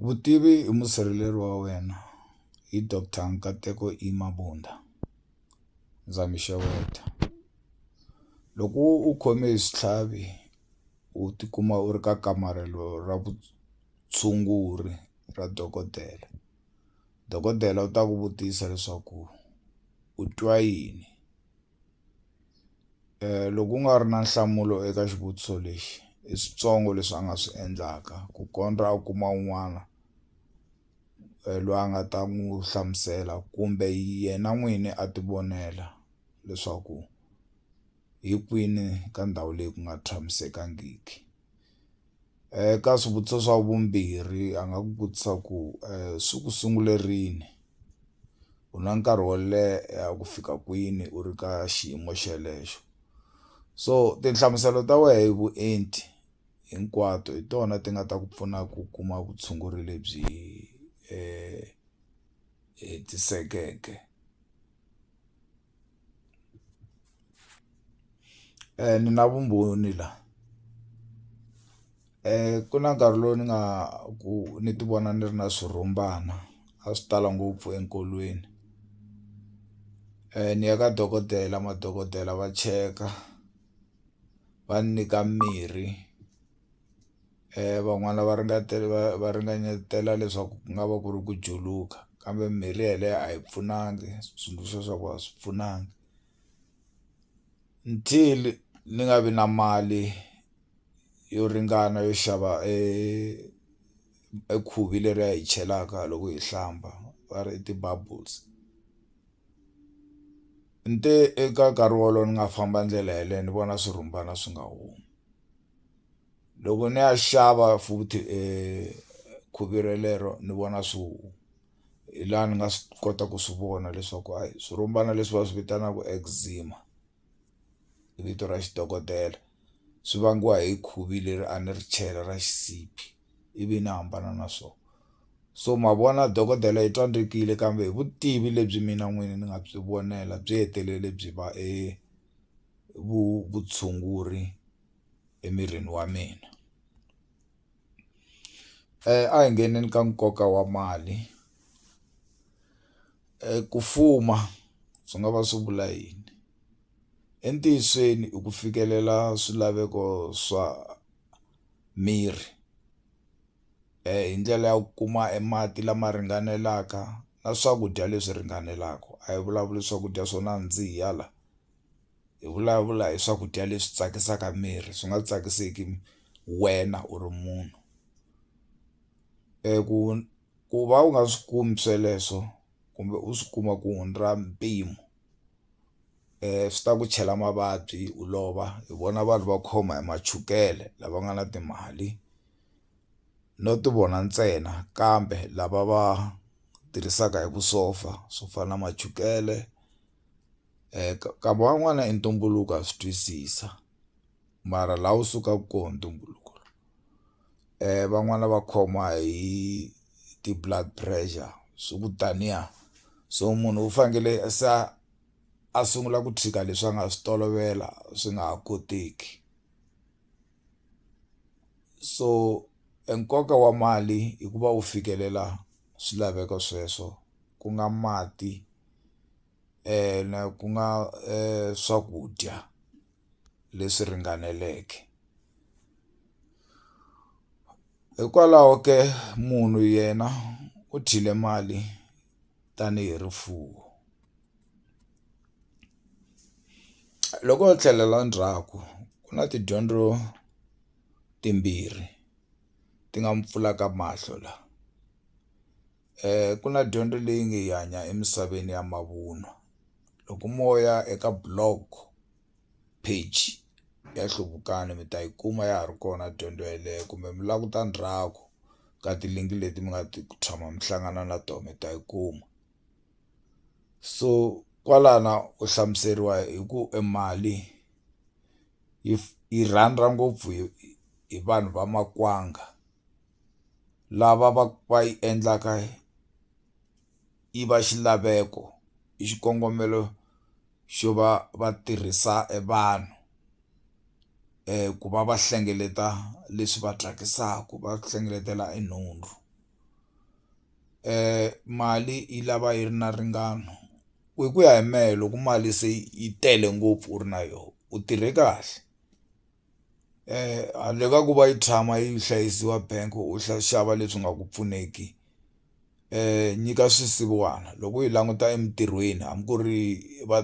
Vutivi i musirheleri wa wena hi doctor Nkateko E Mabunda ndza mi xeweta loko u khome hi switlhavi u tikuma u ri ka kamarhelo ra vutshunguri ra dokodela dokodela u ta ku vutisa leswaku u twa yini. loko ku nga ri na nhlamulo eka xivutiso lexi i switsongo leswi a nga swi endlaka ku kondza a kuma un'wana loyi a nga ta n'wi hlamusela kumbe yena n'wini a ti vonela leswaku hi kwini ka ndhawu leyi ku nga tshamisekangiki. Eka swivutiso swa vumbirhi a nga ku vutisa ku swi ku sungule rini u na nkarhi wo leha ku fika kwini u ri ka xiyimo xelexo so tinhlamuselo ta wehe hi vuenti hinkwato hi tona ti nga ta ku pfuna ku kuma vutshunguri lebyi hetisekeke. ni na vumbhoni la ku na nkarhi lowu ni nga ku ni ti vona ni ri na swirhumbana a swi tala ngopfu enkolweni ni ya ka dokodela madokodela va cheka va ni nyika mirhi. van'wana va ringetile va va ringanyetelwa leswaku ku nga va ku ri ku juluka kambe mirhi yeleyo a yi pfunanga switsundzuxo swa kona a swi pfunanga until ni nga vi na mali yo ringana yo xava e e khuvi leri a hi chelaka loko hi hlamba va ri i ti-bubbles ni te eka nkarhi wolowo ni nga famba ndlela yeleyo ni vona swirhumbana swi nga humi. loko ni ya xava futhi khuvi relero ni vona swihuhwa hi laha ni nga swi kota ku swi vona leswaku hayi swirhumbana leswi va swi vitanaka eczema i vito ra xidokodela swi vangiwa hi khuvi leri a ni ri chela ra xisibi ivi ni hambana na swona so ma vona dokodela i twa ni rikile kambe hi vutivi lebyi mina n'wini ni nga byi vonela byi hetelele byi va . vutshunguri emirini wa mina a hi ngheneni ka nkoka wa mali ku fuma swi nga va swi vula yini entiyisweni i ku fikelela swilaveko swa miri hi ndlela ya ku kuma e mati lama ringanelaka na swakudya leswi ringanelaka a hi vulavuli swakudya swo nandziha la. hi vulavula hi swakudya leswi tsakisaka miri swi nga tsakisiki wena u ri munhu ku ku va u nga swi kumi sweleswo kumbe u swi kuma ku hundza mpimo swi ta ku chela mavabyi u lova hi vona vanhu va khoma hi ma chukele lava nga na timali no ti vona ntsena kambe lava va tirhisaka hi vusopfa swo fana na ma chukele. kama wan'wana i ntumbuluko ha swi twisisa mara la wu sukaku ko ntumbuluko van'wani va khoma hi ti-blood pressure swi ku taniya so munhu u fanekele a se a a sungula ku tshika leswi a nga swi tolovela swi nga ha koteki so e nkoka wa mali i ku va u fikelela swilaveko sweswo ku nga mati. na ku nga swakudya leswi ringaneleke hikwalaho ke munhu yena u dyile mali tanihi rifuwo loko ho tlhelela ndzhaku ku na tidyondzo timbirhi ti nga mu pfulaka mahlo la. ku na dyondzo leyi nge hi hanya emisaveni ya mavunwa loko mo ya eka blog page ya nhluvukiso mi ta yi kuma ya ha ri kona dyondzo yeleyo kumbe mi languta ndzhaku ka tilinki leti mi nga ti tshama mi hlangana na tona mi ta yi kuma so kwalano u hlamuseriwa hi ku e mali yi yi rhandza ngopfu hi vanhu va makwanga. lava va va yi endlaka yi va xilaveko hi xikongomelo xo va va tirhisa e vanhu ku va va hlengeleta leswi va tsakisaka va hlengeletela e nhundzu mali yi lava yi ri na ringana hi ku ya hi mehe loko mali se yi tele ngopfu u ri na yona u tirhe kahle. handle ka ku va yi tshama yi hlayisiwa bank u xava leswi nga ku pfuneki nyika swisiwana loko u yi languta emintirhweni hambi ku ri va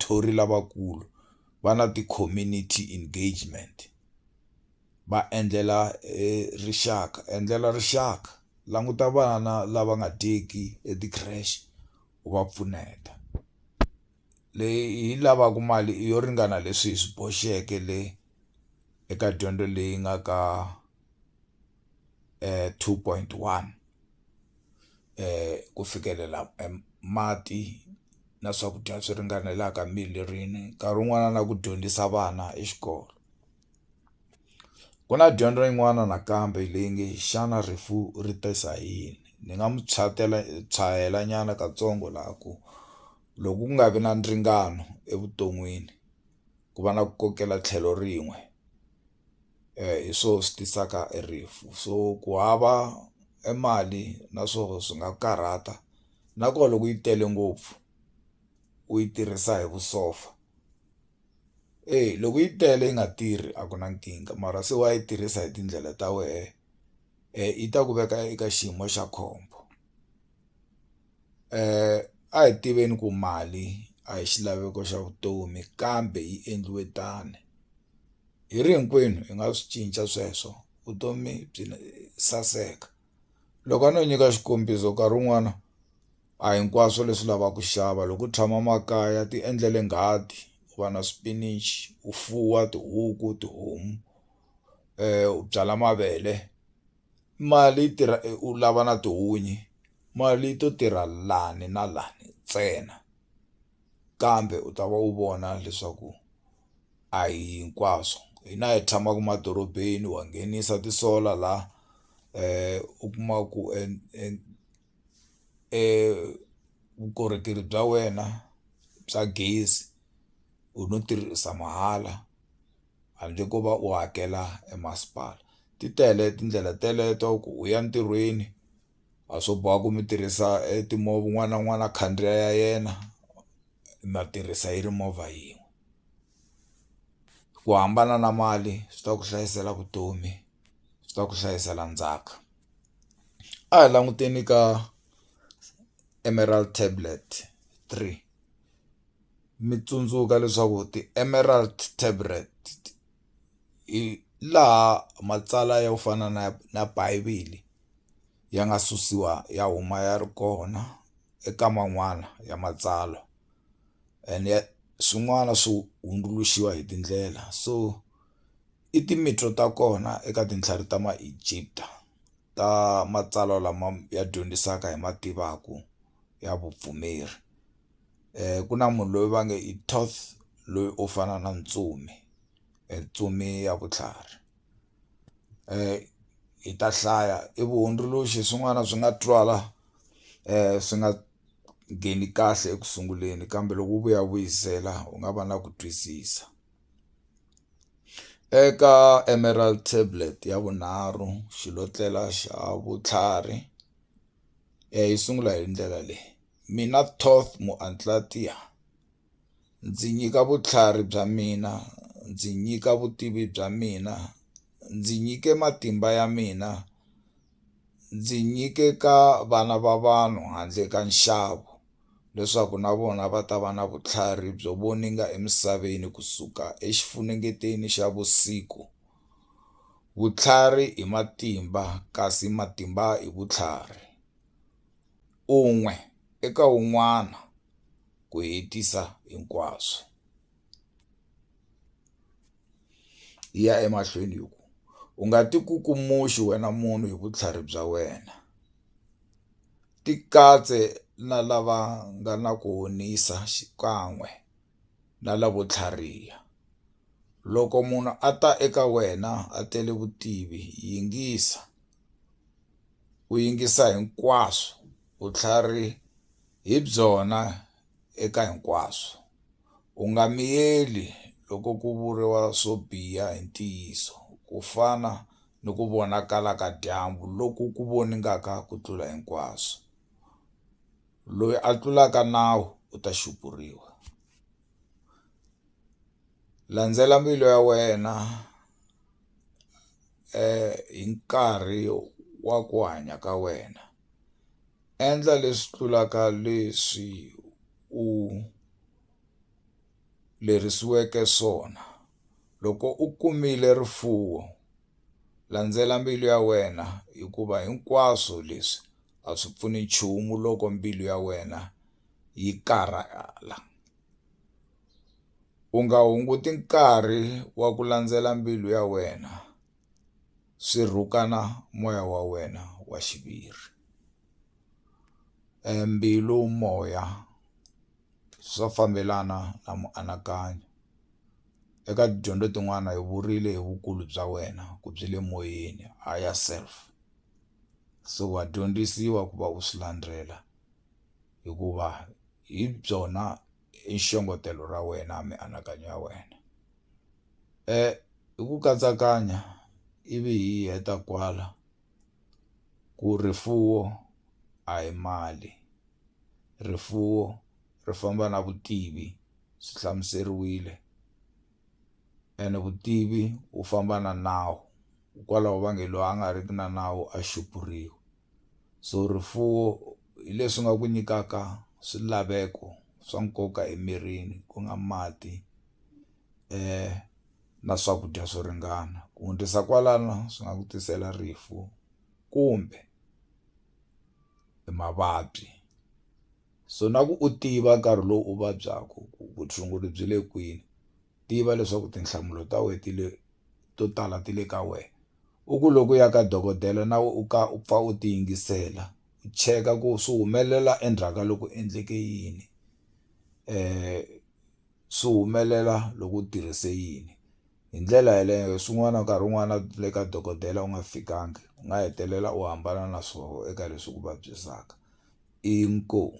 thori lavakulu va na ti-community engagement va endlela rixaka endlela rixaka languta vana lava nga dyeki e ti-creche u va pfuneta. leyi yi lavaka mali yo ringana leswi hi swi boxeke le eka dyondzo leyi nga ka two point one ku fikelela mati na swakudya swi ringanelaka mirini nkarhi wun'wana na ku dyondzisa vana exikolweni. Ku na dyondzo yin'wana nakambe leyi nge xana rifu ri ta sa hi yini ni nga mu tshwayela nyana katsongo la ku loko ku nga vi na ndzingano evuton'wini ku va na ku kokela tlhelo rin'we hi swo swi tisaka e rifu so ku hava e mali na swona swi nga karhata na koho loko yi tele ngopfu u yi tirhisa hi vusopfa. eyi loko yi tele yi nga tirhi a ku na nkingha mara se wa yi tirhisa hi tindlela ta wehe yi ta ku veka eka xiyimo xa khombo a hi tiveni ku mali a hi xilaveko xa vutomi kambe yi endliwe tano hi ri hinkwenu hi nga swi cinca sweswo vutomi byi saseka. loko a no nyika xikombiso nkarhi wun'wana a hinkwaswo leswi lavaka ku xava loko u tshama makaya ti endlele nghadi ku va na swipinichi u fuwa tihuku tihomu u byala mavele mali yi tirha u lava na tihunyi mali yi to tirha lani na lani ntsena kambe u ta va u vona leswaku. a hi hinkwaswo hina hi tshamaka emadorobeni wa nghenisa ti-solar la u kuma ku vukorhokeri bya wena bya gezi u no tirhisa mahala handle ko va u hakela e masipala ti tele tindlela teleto ku u ya ntirhweni a swo boha ku mi tirhisa e timovha un'wana na un'wana a khandziya ya yena. ma tirhisa yi ri movha yin'we ku hambana na mali swi ta ku hlayisela vutomi swi ta ku hlayisela ndzhaka a hi languteni ka emerald tablet three mi tsundzuka leswaku ti-emerald tablet hi laha matsalwa yo fana na na bivhele. ya nga susiwa ya huma ya ri kona eka man'wana ya matsalwa and ya swin'wana swo hundzuluxiwa hi tindlela so i ta kona eka tintlhari ta ma Egipta ta matsalwa lama ya dyondzisaka hi ma tivaku ya vupfumeri ku na munhu loyi va nge i Toth loyi u fana na ntsumi ntsumi ya vutlhari. hi ta hlaya i vuhundzuluxi hi swin'wana swi nga twala swi nga ngheni kahle eku sunguleni kambe loko u vuya vuyisela u nga va na ku twisisa eka Emerald tablet ya vunharhu xilotlela xa vutlhari yi sungula hi ndlela leyi mina Toth . ndzi nyika vutlhari bya mina ndzi nyika vutivi bya mina ndzi nyike matimba ya mina ndzi nyike ka vana va vanhu handle ka nxavo leswaku na vona va ta va na vutlhari byo voninga emisaveni kusuka exifunengeteni xa vusiku vutlhari hi matimba kasi matimba hi vutlhari. un'we eka un'wana ku hetisa hinkwaswo. Yi ya emahlweni yi ku, U nga tikukumuxi wena munhu hi vutlhari bya wena. Tikatse na lava nga na ku honisa xikan'we na lavo tlhariha. Loko munhu a ta eka wena a tele vutivi, yingisa. u yingisa hinkwaswo vutlhari hi byona eka hinkwaswo. U nga miyeli loko ku vuriwa swo biha hi ntiyiso, ku fana ni ku vonakala ka dyambu loku ku voningaka ku tlula hinkwaswo. Loyi a tlulaka nawu u ta xupuriwa. Landzela mbilu ya wena. hi nkarhi wa ku hanya ka wena endla leswi tlulaka leswi u lerisiweke swona loko u kumile rifuwo landzela mbilu ya wena hikuva hinkwaswo leswi a swi pfuni nchumu loko mbilu ya wena yi karhala. u nga hunguti nkarhi wa ku landzela mbilu ya wena swi rhukana moya wa wena wa xiviri mbilu moya swa fambelana na mianakanyo eka tidyondzo tin'wani hi vurile hi vukulu bya wena ku byi le moyeni higher self so wa dyondzisiwa ku va u swi landzela hikuva hi byona. i xongetelo ra wena mianakanyo ya wena hi ku katsakanya ivi hi heta kwala ku rifuwo a hi mali rifuwo ri famba na vutivi swi hlamuseriwile ene vutivi wu famba na nawu hikwalaho va nge loyi a nga riki na nawu a xupuriwa. So rifuwo hi leswi nga ku nyikaka swilaveko swa nkoka emirini ku nga mati na swakudya swo ringana ku hundzisa kwalano swi nga ku tisela rifu kumbe hi mavabyi so na ku u tiva nkarhi lowu u vabyaku ku vutshunguri byi le kwini tiva leswaku tinhlamulo ta wena ti le to tala ti le ka wena u ku loko u ya ka dokodela na wena u ka u pfa u ti yingisela u cheka ku swi humelela endzhaku ka loko endleke yini swi humelela loko u tirhise yini hi ndlela yeleyo swin'wana nkarhi wun'wana le ka dokodela u nga fikanga u nga hetelela u hambana na swoho eka leswi ku vabyisaka inkomu.